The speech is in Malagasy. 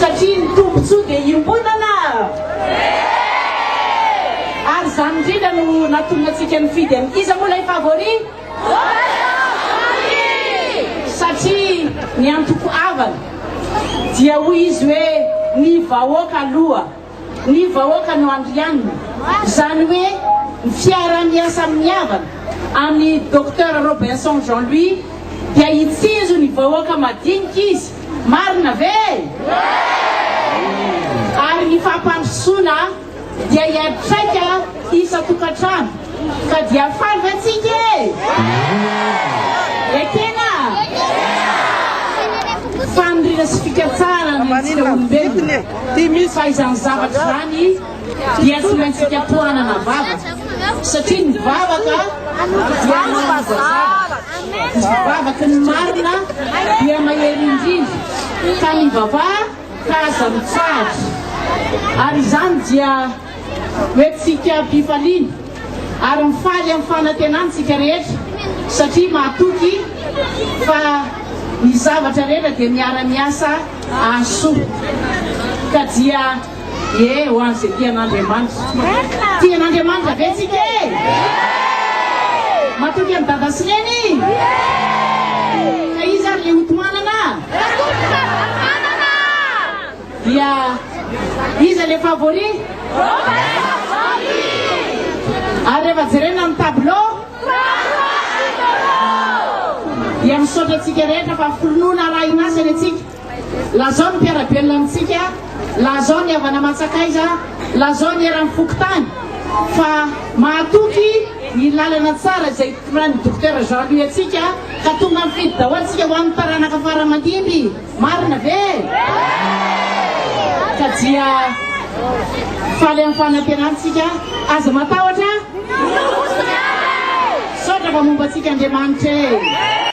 Satria ny tombotsoa dia iombonana. Ary izany indrindra no nahatonga antsika nifidy an'i. Iza moa ilay favori? Satria ny antoko havana dia hoy izy hoe ny vahoaka aloha. Ny vahoaka no andrianina. Izany hoe ny fiaraha-miasa mihavana amin'i Docteur Robinson Jean Louis dia hitsinjo ny vahoaka madinika izy. Marina ve? Ary ny fampandrosoana dia hiantraika. isan-tokantrano ka dia faly ve tsika e? Ekena! Faniriana sy fikatsahana ny antsika olombelona fa izany zavatra izany dia tsy maintsy ikatohanana vava satria ny vavaka dia manova zavatra ny vavaky ny marina dia mahery indrindra ka mivavaha ka aza mitsahatra ary izany dia Hoentintsika am-pifaliana ary mifaly amin'ny fanantenany isika rehetra, satria mahatoky fa ny zavatra rehetra dia miara-miasa hahasoa ka dia ie ho an'izay tia an'Andriamanitra. Tia an'Andriamanitra ve isika e? Matoky an'i Dada sy Neny? Ka iza ary ilay hotohanana? Dia iza le favori? Ary rehefa jerena amin'ny tableau? Dia misaotra antsika rehetra fa finoana arahin'asa ny antsika. Lazao ny mpiara-belona amintsika, lazao ny havana aman-tsakaiza, lazao ny eran'ny fokontany fa mahatoky ny lalana tsara izay itoran'ny Dokotera Jean Louis antsika ka tonga mifidy daholo isika ho an'ny taranaka fara aman-dimby. Marina ve? Ka dia faly amin'ny fanantenatsika, aza matahotra ny Tompo sy ny Ray. Misaotra fa momba antsika Andriamanitra e!